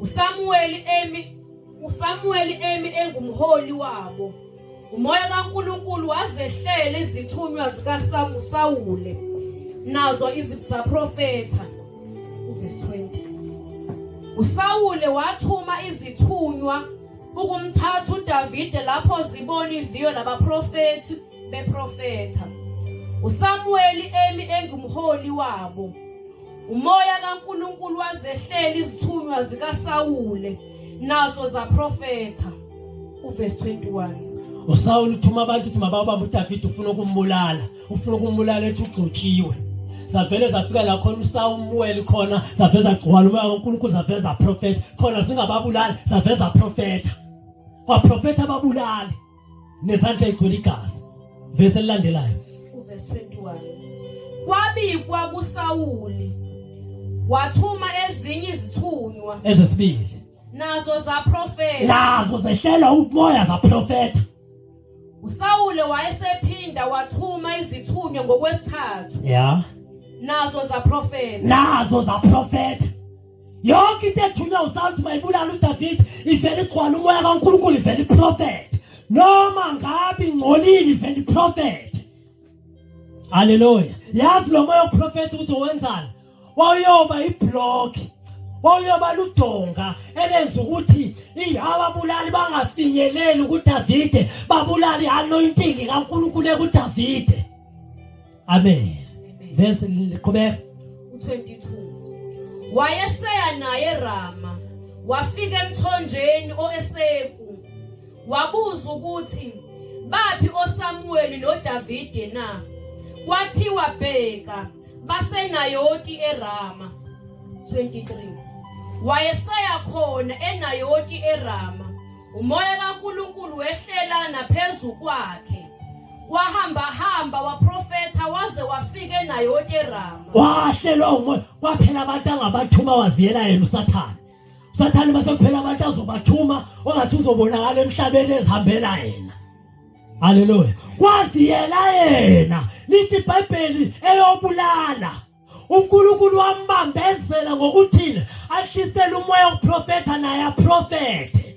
uSamuweli emi uSamuweli emi engumholi wabo umoya kaNkulunkulu wazehlela izithunywa zikaSawule nazo izaprofetha uverse 20 uSawule wathuma izithunywa ukumthatha uDavide lapho zibona iviyo labaprofethi beprofetha. USamuweli emi engumholi wabo. Umoya kaNkulunkulu wazehlela izithunywa zikaSawule nazo zaprofetha. Uverse 21. usawule uthuma abantu ukuthi mababambe udavide ufuna ukumbulala ufuna ukumbulala ethi ugcotshiwe zavele zafika la khona usawumuweli khona zavele zagcwala umoya kankulunkulu zavele zaprofetha khona zingababulali zavele zaprofetha kwaprofetha ababulali nezandla igcwele igazi vese elilandelayo uvesi 21 kwabikwa kusawuli wathuma ezinye izithunywa ezesibili nazo zaprofeta nazo zehlelwa umoya zaprofeta usawule wayesephinda wathuma izithunywa ngokwesithathu ya nazo zaprofeta nazo zaprofeta yonke into ethunywa usawuthi mayibulala udavide ivele igcwala umoya kankulunkulu ivele iprofethe noma ngabe ingcolile ivele iprofethe haleluya yazi lo moya woprofetha ukuthi wenzani wawuyoba ibhlokhi wawuyoba ludonga elenza ukuthi ababulali bangafinyeleli kudavide babulale i-anointing kankulunkulu ekudavide amen verse liqhubeka u22 wayeseya naye Rama wafika emthonjeni oeseku wabuza ukuthi baphi oSamuweli noDavide na kwathiwa bheka basenayoti eRama 23 wayeseya khona enayoti eRama Umoya kaNkulunkulu wehlela naphezu kwakhe. Wahamba hamba waprofetha waze wafika naye oTerama. Wahlelwa umoya kwaphela abantu angabathuma waziyela yena uSathane. Sathane base kuphela abantu azobathuma ongathi uzobonakala emhlabeni ezihambela yena. Haleluya. Kwaziyela yena. Lithi iBhayibheli eyobulala. uNkulunkulu wambambezela ngokuthile ahlisele umoya wokuprofetha naye aprofethe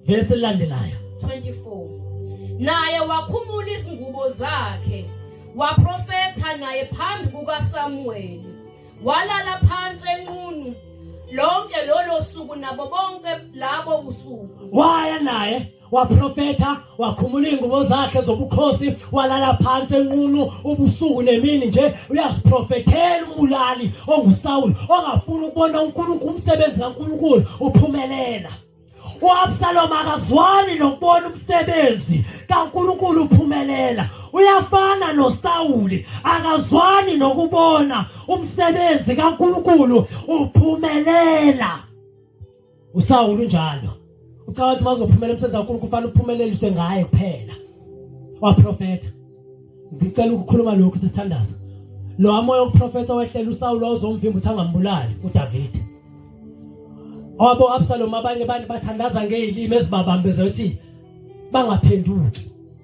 vesi lilandelayo 24 naye wakhumula izingubo zakhe waprofetha naye phambi kukaSamuweli walala phansi enqunu lonke lolo suku nabo bonke labo busuku waya naye waprofetha wakhumula iy'ngubo zakhe zobukhosi walala phansi enqunu ubusuku nemini nje uyaziprofethela umbulali ongusawuli ongafuni ukubona unkulunkulu umsebenzi kankulunkulu uphumelela uabsaloma akazwani nokubona umsebenzi kankulunkulu uphumelela uyafana nosawuli akazwani nokubona umsebenzi kankulunkulu uphumelela usawulu njalo ucabanga ukuthi makuzophumela umsebenzi wankulu kufanele uphumeleliswe ngaye kuphela waprofetha ngicela ukukhuluma lokhu sesithandaza lo amoya okuprofetha wehlela usawulu wawuzomvimba ukuthi angambulali udavide obo absalomu abanye abantu bathandaza ngey'limi ezibabambeze ukuthi bangaphenduki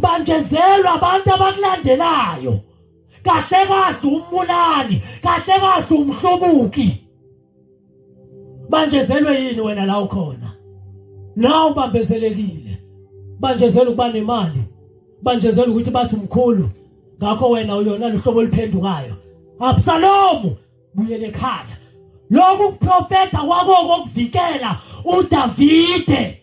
bangezelwa abantu abakulandelayo kahle kahle umbulali kahle kahle umhlobuki banjezelwe yini wena la ukhona nawe ubambezelekile banjezelwe ukuba nemali banjezelwe ukuthi bathi umkhulu ngakho wena uyona luhlobo oluphendukayo absalomu buyele ekhaya lokhu kuprofetha kwakoko kuvikela udavide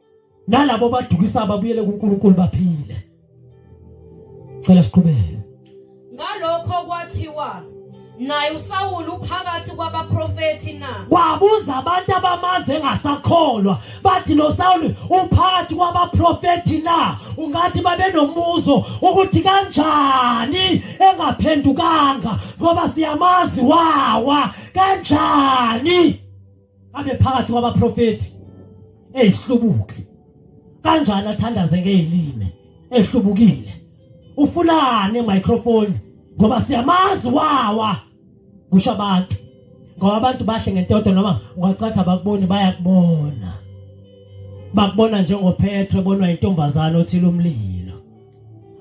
nalabo badukisayo babuyele kuNkulunkulu baphile cela siqhubeke ngalokho kwathiwa naye uSawulu uphakathi kwabaprofethi na wabuza abantu abamaze ngasakholwa bathi lo Sawulu uphakathi kwabaprofethi na ungathi babenomuzo ukuthi kanjani engaphendukanga ngoba siyamazi wawa kanjani abe phakathi kwabaprofethi ezihlubuki kanjani athandaze ngeelime ehlubukile ufunani microphone ngoba siyamazi wawa kusho abantu ngoba abantu bahle ngentoto noma ungacatha bakuboni bayakubona bakubona njengophethe bonwa intombazana othile umlilo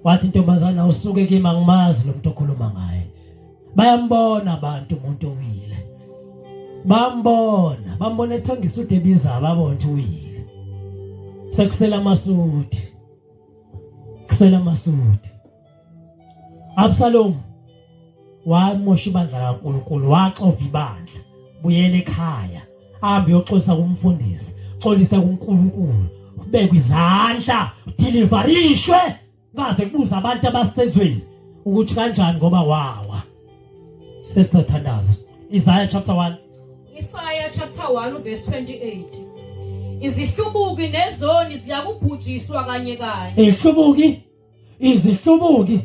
wathi intombazana usuke kimi angimazi lo muntu okhuluma ngaye bayambona abantu umuntu owile bambona bambona ethonga isudu ebiza ababonje uwile sekusela amasudi kusela amasudi absalomu wamosha ibandla kaNkuluNkulu waxova ibandla buyela ekhaya ahambe uyoxolisa kumfundisi xolisa kuNkuluNkulu ubekwe izandla deliverishwe Baze kubuza abantu abasezweni ukuthi kanjani ngoba wawa. Sesithandaza. Isaiah chapter 1. Isaiah chapter 1 verse 28. Izihlubuki nezoni ziyakubhujiswa kanye kanye. Izihlubuki izihlubuki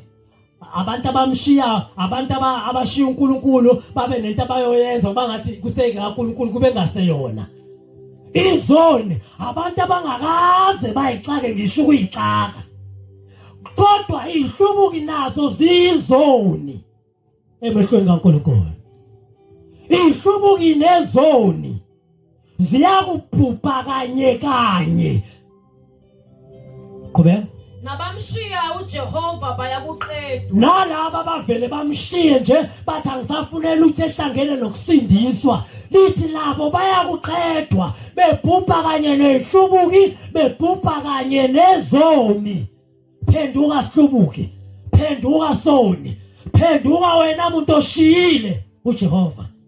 abantu abamshiya abantu abashiya uNkulunkulu babe nento abayoyenza kuba ngathi kuseke kaNkulunkulu kube ngaseyona izoni abantu abangakaze bayixake ngisho ukuyixaka kodwa ihlubuki nazo zizoni emehlweni kaNkulunkulu ihlubuki nezoni ziyakubhubha kanye kanye qhubeka nabamshiya ujehova bayakuqeda nalaba bavele bamshiye nje bathi angisafunela ukuthi ehlangene nokusindiswa lithi labo bayakuqedwa bebhubha kanye nehlubuki bebhubha kanye nezoni phenduka sihlubuki phenduka soni phenduka wena muntu oshiyile ujehova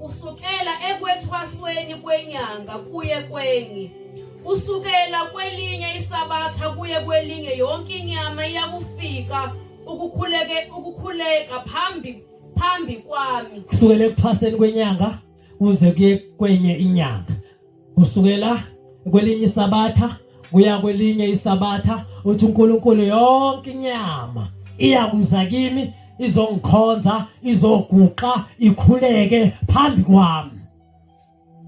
kusukela ekwethwasweni kwenyanga kuye kwenye kusukela kwelinye isabatha kuye kwelinye yonke inyama iyakufika ukukhuleke ukukhuleka phambi phambi kwami kusukela ekuthwaseni kwenyanga kuze kuye kwenye inyanga kusukela kwelinye isabatha kuya kwelinye isabatha uthi uNkulunkulu yonke inyama iyakuza kimi izongikhonza izoguqa ikhuleke phambi kwami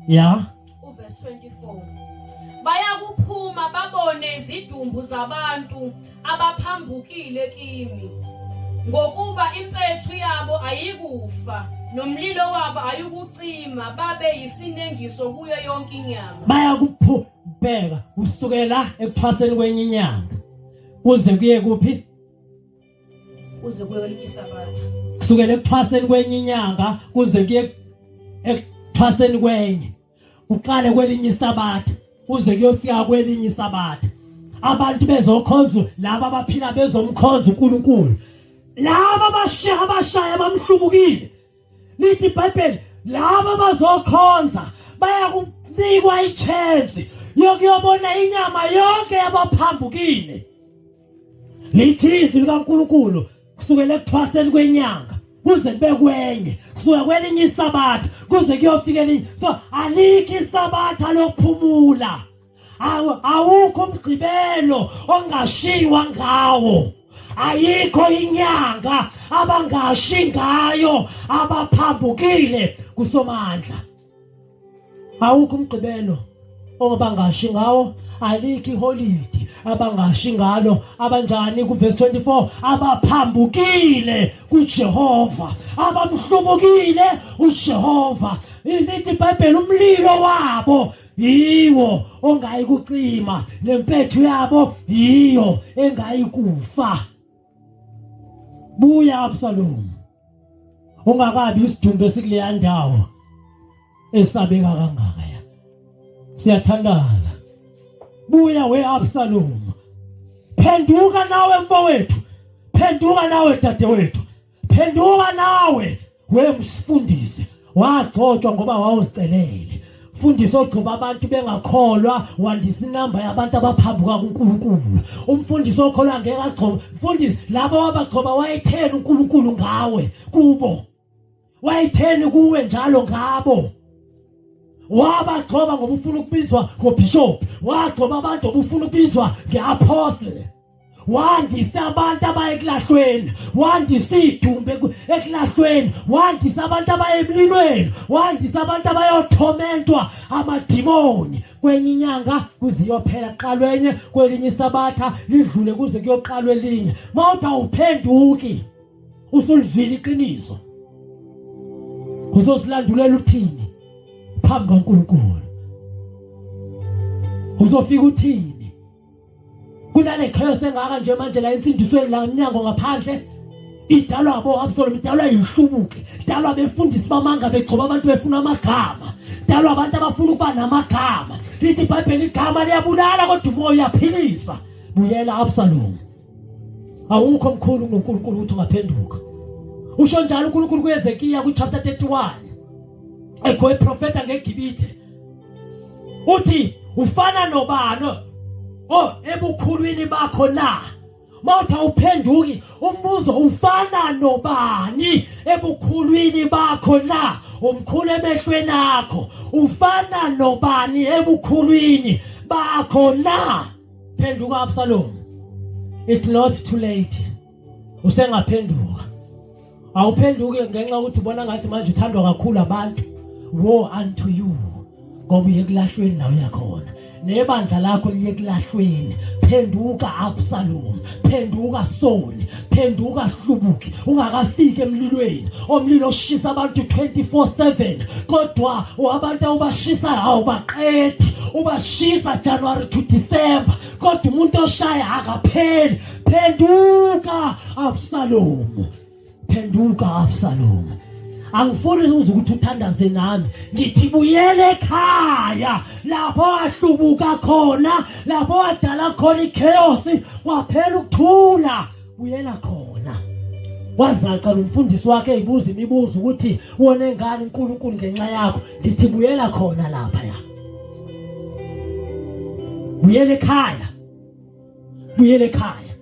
ya uverse 24 bayakuphuma babone izidumbu zabantu abaphambukile kimi ngokuba impethu yabo ayikufa nomlilo wabo ayukucima babe yisinengiso kuyo yonke inyama bayakuphubheka kusukela ekuthwaseni kwenye inyanga kuze kuye kuphi kuze kuye kwelinye isabatha kusukela ekuthwaseni kwenye inyanga kuze kuye ekuthwaseni kwenye kuqale kwelinye isabatha kuze kuyofika kwelinye isabatha abantu bezokhonza laba abaphila bezomkhonza uNkulunkulu laba abashiya abashaya bamhlubukile lithi ibhayibheli laba bazokhonza baya kunikwa ichance yokuyobona inyama yonke yabaphambukile lithi izwi likaNkulunkulu kusukela ekuthwaseni kwenyanga kuze kube kwenye kusuka kwelinye isabatha kuze kuyofika elinye so alikho isabatha lokuphumula awukho umgqibelo ongashiywa ngawo ayikho inyanga abangashi ngayo abaphambukile kusomandla awukho umgqibelo obangashi ngawo alikho iholidi abangashi ngalo abanjani kuvesi 24 abaphambukile kujehova abamhlubukile ujehova lithi ibhayibheli umlilo wabo yiwo ongayi kucima nempethu yabo yiyo engayi kufa buya absalomu ungakabi isidumbu esikuleya ndawo esabeka kangaka ya siyathandaza buya we Absalom phenduka nawe mfowethu phenduka nawe dadewethu phenduka nawe we msifundisi wagcotshwa ngoba wawucelele fundisa ogcoba abantu bengakholwa wandisa inamba yabantu abaphambuka kuNkulunkulu umfundisi okholwa ngeke agcoba mfundisi laba wabagcoba wayetheni uNkulunkulu ngawe kubo wayetheni kuwe njalo ngabo wabagcoba ngoba ufuna ukubizwa ngobishop wagcoba abantu obufuna ukubizwa ngeapostle wandisa abantu abaye ekulahlweni wandisa idumbe ekulahlweni wandisa abantu abaye emlilweni wandisa abantu abayothomethwa amadimoni kwenye inyanga kuze iyophela kuqalwe enye kwelinye isabatha lidlule kuze kuyoqalwa elinye uma uthi awuphenduki usulizwile iqiniso uzosilandulela uthini phambi kaNkulunkulu uzofika uthini kunale chaos engaka nje manje la emfundisweni la emnyango ngaphandle idalwa abo Absalom idalwa yihlubuke idalwa befundisi bamanga begcoba abantu befuna amagama idalwa abantu abafuna ukuba namagama lithi ibhayibheli igama liyabulala kodwa umoya uyaphilisa buyela Absalom awukho mkhulu uNkulunkulu ukuthi ungaphenduka usho njalo uNkulunkulu kuyezekiya ku chapter 31 ekho iprofeta ngegibithe uthi ufana nobani oh ebukhulwini bakho na mawuthi awuphenduki umbuzo ufana nobani ebukhulwini bakho na umkhulu emehlweni akho ufana nobani ebukhulwini bakho na phenduka Absalom it's not too late usengaphenduka awuphenduke ngenxa ukuthi ubona ngathi manje uthandwa kakhulu abantu wo unto you ngoba uye kulahlweni nawe yakhona nebandla lakho liye kulahlweni phenduka absalom phenduka soni phenduka sihlubuki ungakafiki emlilweni omlilo oshisa abantu 24/7 kodwa wabantu awubashisa hawo baqethi ubashisa January to December kodwa umuntu oshaya akapheli phenduka Absalom phenduka Absalom angifuni uze ukuthi uthandaze nami ngithi buyele ekhaya lapho wahlubuka khona lapho wadala khona ichaos waphela ukuthula buyela khona wazaca lo mfundisi wakhe eyibuza imibuzo ukuthi wone ngani uNkulunkulu ngenxa yakho ngithi buyela khona lapha ya buyele ekhaya buyele ekhaya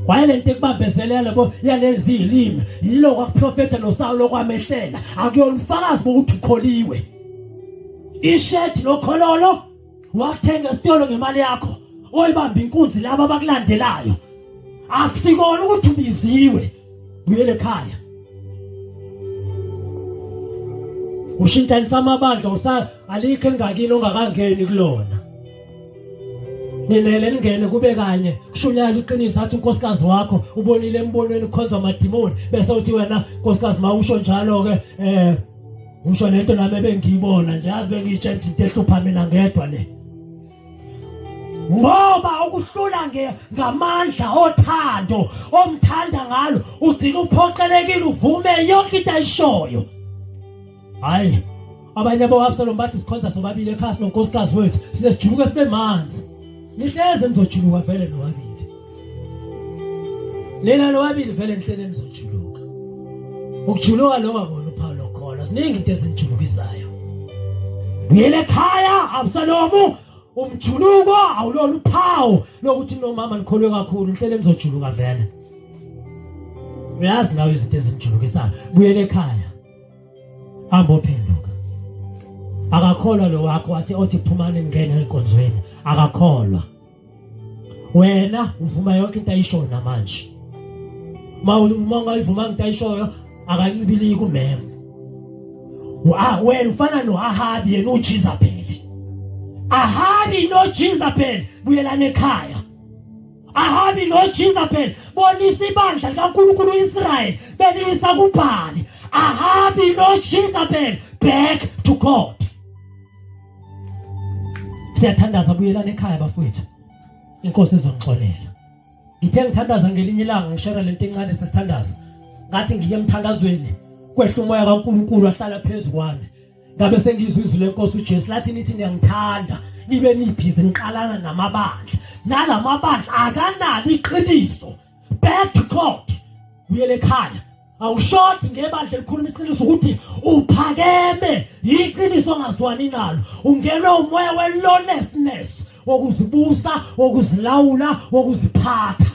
waye lento ekubambezela lebo yalezi ilimi yilo kwakuprofetha noSawulo kwamehlela akuyona ufakazi bokuthi ukholiwe ishirt lokhololo wathenga esitolo ngemali yakho oyibamba inkunzi laba abakulandelayo akusikona ukuthi ubiziwe buyele ekhaya ushintshanisa amabandla usa alikho engakini ongakangeni kulona ninele ningene kube kanye kushunyayela iqiniso athi unkosikazi wakho ubonile embonweni ukhonza amadimoni bese uthi wena nkosikazi ma usho njalo-ke um eh, usho nento nami ebengiyibona nje azi bengiyitshela izinto ehlupha mina ngedwa le ngoba ukuhlula ngamandla othando omthanda ngalo ugcina uphoqelekile uvume yonke into ayishoyo hayi abanye bo-absalom bathi sikhonza sobabili ekhasi nonkosikazi wethu size sijuluke sibe manzi nihleze nizojuluka vele nobabili lena lowabili vele enhleleni zojuluka ukujuluka loba kona uphawu lokholo ziningi into ezinijulukisayo buyele ekhaya absalomu umjuluko awulona uphawu lokuthi nomama likholwe kakhulu inhleleni zojuluka vele uyazi nawe izinto ezinijulukisayo buyele ekhaya ambophenduka akakholwa lo wakho wathi othi phumani ngene enkonzweni akakholwa wena uvuma yonke into ayishoyo namanje ma uma ungayivuma into ayishoyo akancibiliki umema ah, wena ufana noahabi yena ujizabheli ahabi nojizabheli buyelana ekhaya ahabi nojizabheli bonisa ibandla likankulunkulu uisrayeli beliyisa kubhali ahabi nojizabheli back to god siyathandaza buyelana ekhaya bafowethu inkosi izonixolela ngithe ngithandaza ngelinye ilanga ngishera lento encane sesithandaza ngathi ngiye emthandazweni kwehla umoya kaNkuluNkulu ahlala phezulu kwami ngabe sengizwe izwi lenkosi uJesu lathi nithi ngiyangithanda nibe nibhizi niqalana namabandla nalamabandla akanalo iqiniso back to God uyele ekhaya awushodi ngebandla elikhuluma iqiniso ukuthi uphakeme yiqiniso ongazwani nalo ungenwe umoya we-lawlessness wokuzibusa wokuzilawula wokuziphatha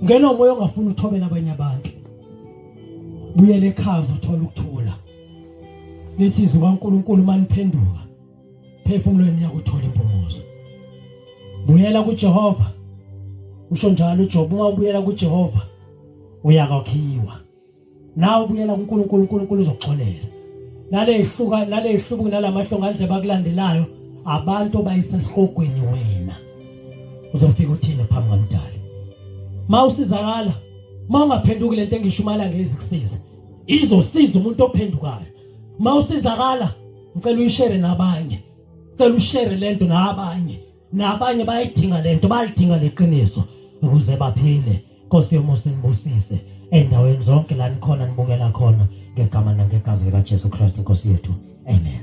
ngena umoya ongafuni uthobela abanye abantu buyele ekhaya uzothole ukuthula lithi izwi kaNkuluNkulu maniphenduka phefumulweni yakuthola impumuzo buyela kuJehova usho njalo uJob uma ubuyela kuJehova uyakwakhiwa nawe ubuyela kuNkulunkulu uNkulunkulu uzoxolela nalehluka nalehlubuki nalamahlonga adle bakulandelayo abantu bayisesihogweni wena uzofika uthini phambi kamdali mawusizakala mawungaphenduki lento engishumayela ngezi kusiza izosiza umuntu ophendukayo mawusizakala ngicela uyishere nabanye ngicela ushere lento nabanye nabanye bayidinga lento bayidinga leqiniso ukuze baphile Nkosi yomusa nibusise endaweni zonke la nikhona nibukela khona ngegama nangegazi likaJesu Kristu Nkosi yethu amen